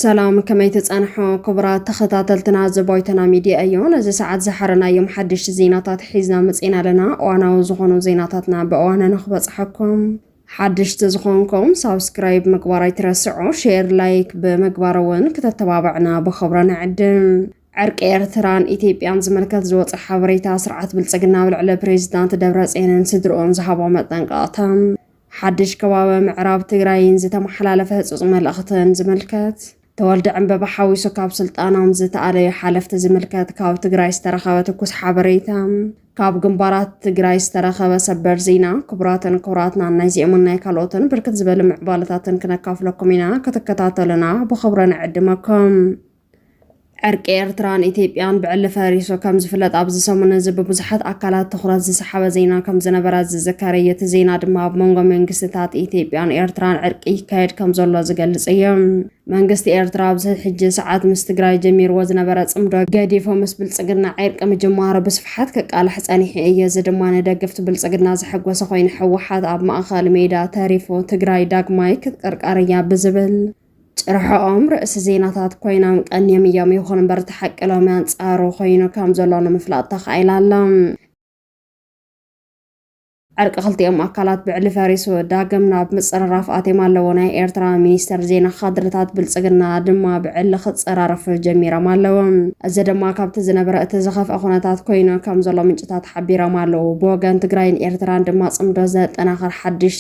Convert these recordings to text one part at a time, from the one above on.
ሰላም ከመይ ተጻንሖ ክቡራት ተኸታተልትና ዘቦይተና ሚድያ እዩ ነዚ ሰዓት ዝሓረናዮም ሓደሽቲ ዜናታት ሒዝና መፅና ኣለና እዋናዊ ዝኾኑ ዜናታትና ብእዋነ ንክበፅሐኩም ሓደሽቲ ዝኾንኩም ሳብስክራይብ ምግባር ኣይትረስዑ ሼር ላይክ ብምግባር እውን ክተተባብዕና ብኽብረ ንዕድም ዕርቂ ኤርትራን ኢትዮጵያን ዝምልከት ዝወፀ ሓበሬታ ስርዓት ብልፅግና ኣብ ልዕሊ ፕሬዚዳንት ደብረፅዮንን ስድርኡን ዝሃቦ መጠንቀቕታን ሓድሽ ከባቢ ምዕራብ ትግራይን ዝተመሓላለፈ ህፁፅ መልእኽትን ዝምልከት ተወልደ ዕንበባ ሓዊሱ ካብ ስልጣኖም ዝተኣለዩ ሓለፍቲ ዝምልከት ካብ ትግራይ ዝተረኸበ ትኩስ ሓበሬታ ካብ ግንባራት ትግራይ ዝተረኸበ ሰበር ዜና ክቡራትን ክቡራትናን ናይዚኦምን ናይ ካልኦትን ብርክት ዝበሉ ምዕባለታትን ክነካፍለኩም ኢና ክትከታተሉና ብኽብረ ንዕድመኩም ዕርቂ ኤርትራን ኢትዮጵያን ብዕሊ ፈሪሱ ከም ዝፍለጥ ኣብዚ ሰሙን እዚ ብብዙሓት ኣካላት ትኹረት ዝሰሓበ ዜና ከም ዝነበረ ዝዝከር እዩ። እቲ ዜና ድማ ኣብ መንጎ መንግስቲታት ኢትዮጵያን ኤርትራን ዕርቂ ይካየድ ከም ዘሎ ዝገልጽ እዩ። መንግስቲ ኤርትራ ኣብዚ ሕጂ ሰዓት ምስ ትግራይ ጀሚርዎ ዝነበረ ጽምዶ ገዲፉ ምስ ብልጽግና ዕርቂ ምጅማሩ ብስፍሓት ክቃላሕ ጸኒሑ እዩ። እዚ ድማ ንደገፍቲ ብልጽግና ዘሐጎሰ ኮይኑ ህወሓት ኣብ ማእከል ሜዳ ተሪፉ ትግራይ ዳግማይ ክትቀርቀር እያ ብዝብል ጭርሖኦም ርእሲ ዜናታት ኮይናም ቀንዮም እዮም። ይኹን እምበር እቲ ሓቂ ሎሚ ኣንጻሩ ኮይኑ ከም ዘሎ ንምፍላጥ ተኻኢላ ኣላ። ዕርቂ ክልቲኦም ኣካላት ብዕሊ ፈሪሱ ዳግም ናብ ምፅርራፍ ኣትዮም ኣለዎ። ናይ ኤርትራ ሚኒስተር ዜና ካድርታት ብልፅግና ድማ ብዕሊ ክፀራረፉ ጀሚሮም ኣለዉ። እዚ ድማ ካብቲ ዝነበረ እቲ ዝኸፍአ ኩነታት ኮይኑ ከም ዘሎ ምንጭታት ሓቢሮም ኣለዉ። ብወገን ትግራይን ኤርትራን ድማ ፅምዶ ዘጠናኽር ሓድሽ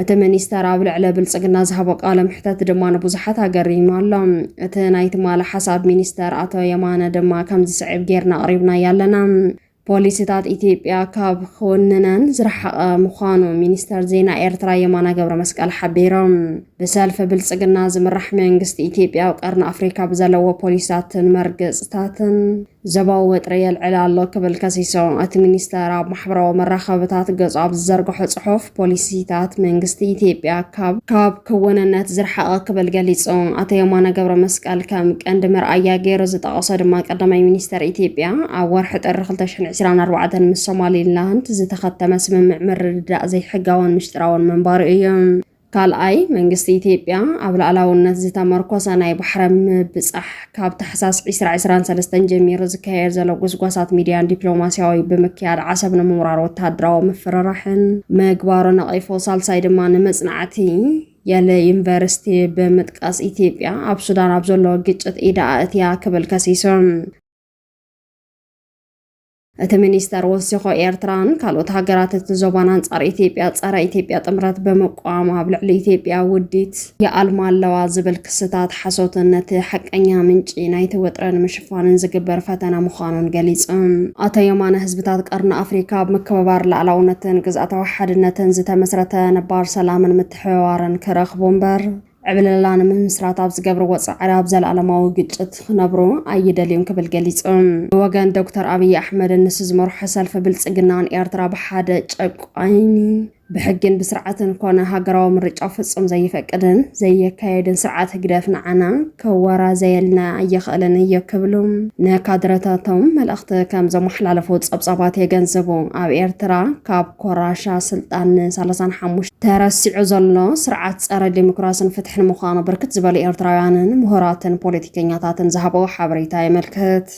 እቲ ሚኒስተር ኣብ ልዕሊ ብልጽግና ዝሃቦ ቃለ መሕተት ድማ ንብዙሓት ኣገሪሙ ኣሎ። እቲ ናይ ትማሊ ሓሳብ ሚኒስተር ኣቶ የማነ ድማ ከም ዝስዕብ ጌርና ኣቕሪብናዮ ኣለና። ፖሊሲታት ኢትዮጵያ ካብ ክውንነን ዝረሓቐ ምዃኑ ሚኒስተር ዜና ኤርትራ የማነ ገብረመስቀል ሓቢሮም። ብሰልፊ ብልጽግና ዝምራሕ መንግስቲ ኢትዮጵያ ኣብ ቀርኒ ኣፍሪካ ብዘለዎ ፖሊሲታትን መርገጽታትን ዘባዊ ወጥሪ የልዕል ኣሎ ክብል ከሲሶ። እቲ ሚኒስተር ኣብ ማሕበራዊ መራኸብታት ገጹ ኣብ ዝዘርግሖ ጽሑፍ ፖሊሲታት መንግስቲ ኢትዮጵያ ካብ ካብ ክውንነት ዝርሓቐ ክብል ገሊጹ። ኣቶ የማነ ገብረ መስቀል ከም ቀንዲ መርኣያ ገይሩ ዝጠቐሶ ድማ ቀዳማይ ሚኒስተር ኢትዮጵያ ኣብ ወርሒ ጥሪ 2024 ምስ ሶማሊላንድ ዝተኸተመ ስምምዕ ምርድዳእ ዘይሕጋውን ምሽጥራውን ምንባሩ እዩ። ካልኣይ፣ መንግስቲ ኢትዮጵያ ኣብ ልኣላውነት ዝተመርኮሰ ናይ ባሕረ ምብጻሕ ካብ ታሕሳስ 2023 ጀሚሩ ዝካየድ ዘሎ ጉስጓሳት ሚድያን ዲፕሎማስያዊ ብምክያድ ዓሰብ ንምውራር ወተሃደራዊ ምፍርራሕን ምግባሩ ነቒፉ። ሳልሳይ ድማ ንመጽናዕቲ የለ ዩኒቨርሲቲ ብምጥቃስ ኢትዮጵያ ኣብ ሱዳን ኣብ ዘሎ ግጭት ኢዳ ኣእትያ ክብል ከሲሱ። እቲ ሚኒስተር ወሲኾ ኤርትራን ካልኦት ሃገራት እቲ ዞባን ኣንጻር ኢትዮጵያ ጸረ ኢትዮጵያ ጥምረት ብምቋም ኣብ ልዕሊ ኢትዮጵያ ውዲት ይኣልማ ኣለዋ ዝብል ክስታት ሓሶትን ነቲ ሓቀኛ ምንጪ ናይቲ ወጥረ ንምሽፋንን ዝግበር ፈተነ ምዃኑን ገሊጹ። ኣቶ የማነ ህዝብታት ቀርኒ ኣፍሪካ ኣብ ምክብባር ላዕላውነትን ግዝኣታዊ ሓድነትን ዝተመስረተ ነባር ሰላምን ምትሕብባርን ክረኽቡ እምበር ዕብለላ ንምምስራት ኣብ ዝገብርዎ ፃዕሪ ኣብ ዘለኣለማዊ ግጭት ክነብሩ ኣይደልዩን ክብል ገሊፁ። ብወገን ዶክተር ኣብይ ኣሕመድ ንሱ ዝመርሖ ሰልፊ ብልፅግና ንኤርትራ ብሓደ ጨቋኒ ብሕግን ብስርዓትን ኮነ ሃገራዊ ምርጫ ፍፁም ዘይፈቅድን ዘየካየድን ስርዓት ህግደፍ ንዓና ከወራዘየልና ኣይኽእልን እዩ ክብሉ ንካድረታቶም መልእኽቲ ከም ዘመሓላለፉ ፀብፃባት የገንዝቡ። ኣብ ኤርትራ ካብ ኮራሻ ስልጣን ን ሰላሳን ሓሙሽተን ተረሲዑ ዘሎ ስርዓት ጸረ ዲሞክራስን ፍትሕን ምዃኑ ብርክት ዝበሉ ኤርትራውያንን ምሁራትን ፖለቲከኛታትን ዝሃበዎ ሓበሬታ የመልክት።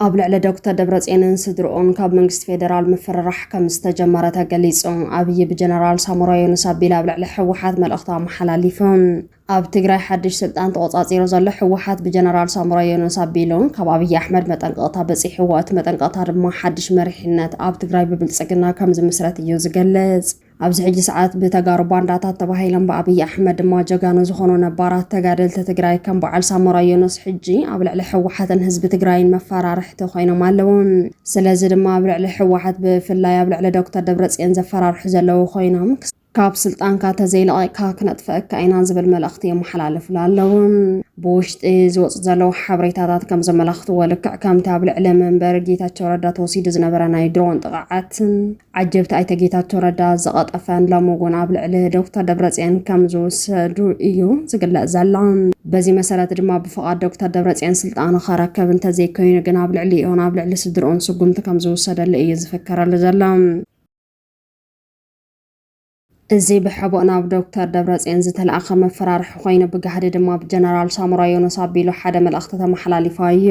ኣብ ልዕሊ ዶክተር ደብረጽዮንን ስድርኡን ካብ መንግስቲ ፌደራል ምፍርራሕ ከም ዝተጀመረ ተገሊጹ። ኣብይ ብጀነራል ሳሞራ ዮኑስ ኣቢሉ ኣብ ልዕሊ ህወሓት መልእኽቱ ኣመሓላሊፉ። ኣብ ትግራይ ሓድሽ ስልጣን ተቖጻጺሩ ዘሎ ህወሓት ብጀነራል ሳሞራ ዮኑስ ኣቢሉ ካብ ኣብይ ኣሕመድ መጠንቀቕታ በጺሕዎ። እቲ መጠንቀቕታ ድማ ሓድሽ መሪሕነት ኣብ ትግራይ ብብልጽግና ከም ዝምስረት እዩ ዝገልጽ። ኣብዚ ሕጂ ሰዓት ብተጋሩ ባንዳታት ተባሂሎም ብኣብይ ኣሕመድ ድማ ጀጋኑ ዝኾኑ ነባራት ተጋደልቲ ትግራይ ከም በዓል ሳሞራ ዮኑስ ሕጂ ኣብ ልዕሊ ህወሓትን ህዝቢ ትግራይን መፈራርሕቲ ኮይኖም ኣለዉ። ስለዚ ድማ ኣብ ልዕሊ ህወሓት ብፍላይ ኣብ ልዕሊ ዶክተር ደብረጽዮን ዘፈራርሑ ዘለዉ ኮይኖም ካብ ስልጣንካ ተዘይለቒቕካ ክነጥፈኣካ ኢና ዝብል መልእኽቲ የመሓላልፍሉ ኣለዉ። ብውሽጢ ዝወፁ ዘለዉ ሓበሬታታት ከም ዘመላኽትዎ ልክዕ ከምቲ ኣብ ልዕሊ መንበሪ ጌታቸው ረዳ ተወሲዱ ዝነበረ ናይ ድሮን ጥቕዓት ዓጀብቲ ኣይተ ጌታቸው ረዳ ዝቐጠፈን ሎሚ እውን ኣብ ልዕሊ ዶክተር ደብረፅዮን ከም ዝውሰዱ እዩ ዝግለፅ ዘሎ። በዚ መሰረት ድማ ብፍቓድ ዶክተር ደብረፅዮን ስልጣኑ ከረከብ እንተዘይኮይኑ ግን ኣብ ልዕሊኡን ኣብ ልዕሊ ስድርኡን ስጉምቲ ከም ዝውሰደሉ እዩ ዝፍከረሉ ዘሎ። እዚ ብሕቡእ ናብ ዶክተር ደብረጽዮን ዝተላእኸ መፈራርሒ ኮይኑ ብጋህዲ ድማ ብጀነራል ሳሞራ ዮኑስ ኣቢሉ ሓደ መልእኽቲ ተመሓላሊፋ እዩ።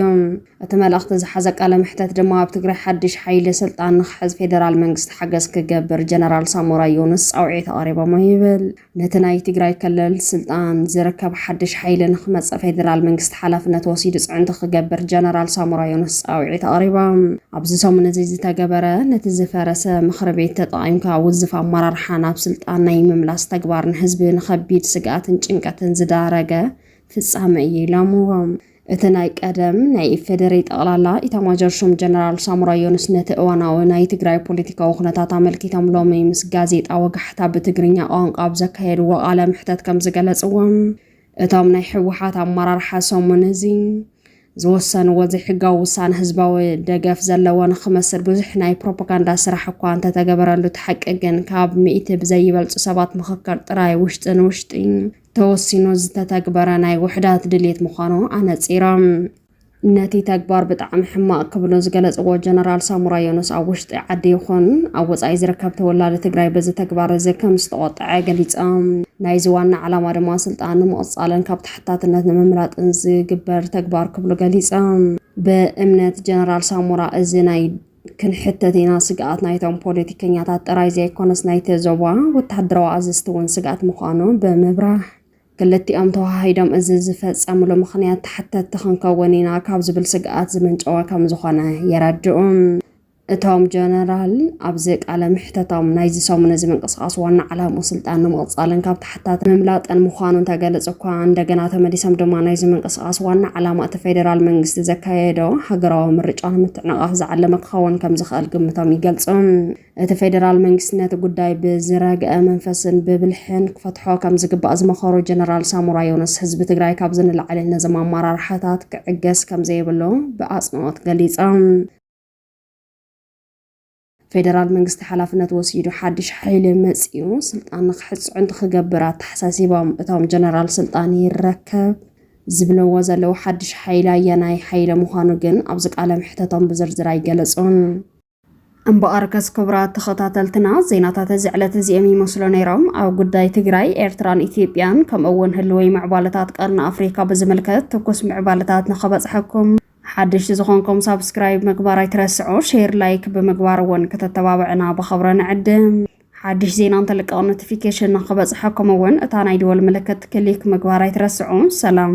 እቲ መልእኽቲ ዝሓዘ ቃለ መሕተት ድማ ኣብ ትግራይ ሓድሽ ሓይሊ ስልጣን ንክሕዝ ፌደራል መንግስቲ ሓገዝ ክገብር ጀነራል ሳሞራ ዮኑስ ጻውዒት ኣቕሪቦሞ ይብል። ነቲ ናይ ትግራይ ክልል ስልጣን ዝርከብ ሓድሽ ሓይሊ ንክመጽእ ፌደራል መንግስቲ ሓላፍነት ወሲዱ ጽዕንቶ ክገብር ጀነራል ሳሞራ ዮኑስ ጻውዒት ኣቕሪቦም። ኣብዚ ሰሙን እዚ ዝተገበረ ነቲ ዝፈረሰ ምኽሪ ቤት ተጠቒምካ ውዝፍ ኣመራርሓ ናብ ስልጣን ናይ ምምላስ ተግባር ንህዝቢ ንኸቢድ ስግኣትን ጭንቀትን ዝዳረገ ፍጻመ እዩ ኢሎምዎ። እቲ ናይ ቀደም ናይ ኢፌዴሪ ጠቕላላ ኢታማጆር ሹም ጀነራል ሳሞራ ዮኑስ ነቲ እዋናዊ ናይ ትግራይ ፖለቲካዊ ኩነታት ኣመልኪቶም ሎሚ ምስ ጋዜጣ ወጋሕታ ብትግርኛ ቋንቋ ኣብ ዘካየድዎ ቃለ መሕተት ከም ዝገለጽዎም እቶም ናይ ህወሓት ኣመራርሓ ሰሙን እዚ ዝወሰንዎ ዘይሕጋዊ ውሳነ ህዝባዊ ደገፍ ዘለዎ ንክመስል ብዙሕ ናይ ፕሮፓጋንዳ ስራሕ እኳ እንተተገበረሉ እቲ ሓቂ ግን ካብ ሚእቲ ብዘይበልፁ ሰባት ምኽክር ጥራይ ውሽጢ ንውሽጢ ተወሲኑ ዝተተግበረ ናይ ውሕዳት ድሌት ምዃኑ ኣነፂሮም። ነቲ ተግባር ብጣዕሚ ሕማቕ ክብሉ ዝገለፅዎ ጀነራል ሳሙራ ዮኑስ ኣብ ውሽጢ ዓዲ ይኹን ኣብ ወፃኢ ዝርከብ ተወላዲ ትግራይ በዚ ተግባር እዚ ከም ዝተቖጠዐ ገሊፆም። ናይዚ ዋና ዓላማ ድማ ስልጣን ንምቕፃልን ካብ ተሓታትነት ንምምላጥን ዝግበር ተግባር ክብሉ ገሊፆም። ብእምነት ጀነራል ሳሞራ እዚ ናይ ክንሕተት ኢና ስግኣት ናይቶም ፖለቲከኛታት ጥራይ ዘይኮነስ ናይቲ ዞባ ወተሃደራዊ ኣዘዝቲ እውን ስግኣት ምዃኑ ብምብራህ ክልቲኦም ተዋሃሂዶም እዚ ዝፈጸምሉ ምኽንያት ተሓተቲ ክንከውን ኢና ካብ ዝብል ስግኣት ዝመንጨወ ከም ዝኾነ የረድኡ። እቶም ጀነራል ኣብዚ ቃለ ምሕተቶም ናይዚ ሰሙን እዚ ምንቅስቓስ ዋና ዓላምኡ ስልጣን ንምቕፃልን ካብ ተሓታት ምምላጥን ምዃኑ እንተገለፁ እኳ እንደገና ተመሊሶም ድማ ናይዚ ምንቅስቓስ ዋና ዓላማ እቲ ፌዴራል መንግስቲ ዘካየዶ ሃገራዊ ምርጫ ንምትዕንቓፍ ዝዓለመ ክኸውን ከም ዝኽእል ግምቶም ይገልፁ። እቲ ፌዴራል መንግስቲ ነቲ ጉዳይ ብዝረግአ መንፈስን ብብልሕን ክፈትሖ ከም ዝግባእ ዝመኸሩ ጀነራል ሳሞራ ዮኑስ ህዝቢ ትግራይ ካብዚ ንላዕሊ ነዞም ኣመራርሓታት ክዕገስ ከም ዘይብሉ ብኣፅንኦት ገሊፆም። ፌደራል መንግስቲ ሓላፍነት ወሲዱ ሓድሽ ሓይሊ መፂኡ ስልጣን ንክሕፅዑ እንትክገብር ኣተሓሳሲቦም እቶም ጀነራል ስልጣን ይረከብ ዝብለዎ ዘለዉ ሓድሽ ሓይሊ ኣየናይ ሓይሊ ምዃኑ ግን ኣብዚ ቃለ መሕተቶም ብዝርዝር ኣይገለጹን። እምበኣር ከስ ክቡራት ተኸታተልትና ዜናታት እዚ ዕለት እዚኦም ይመስሉ ነይሮም። ኣብ ጉዳይ ትግራይ፣ ኤርትራን ኢትዮጵያን ከምኡ'ውን ህልወይ ምዕባለታት ቀርኒ ኣፍሪካ ብዝምልከት ትኩስ ምዕባለታት ንኸበጽሐኩም ሓደሽቲ ዝኾንኩም ሳብስክራይብ ምግባር ኣይትረስዑ፣ ሼር ላይክ ብምግባር እውን ክተተባብዕና ብኸብረ ንዕድም። ሓድሽ ዜና እንተልቀቕ ኖቲፊኬሽን ንክበፅሐኩም እውን እታ ናይ ደወል ምልክት ክሊክ ምግባር ኣይትረስዑ። ሰላም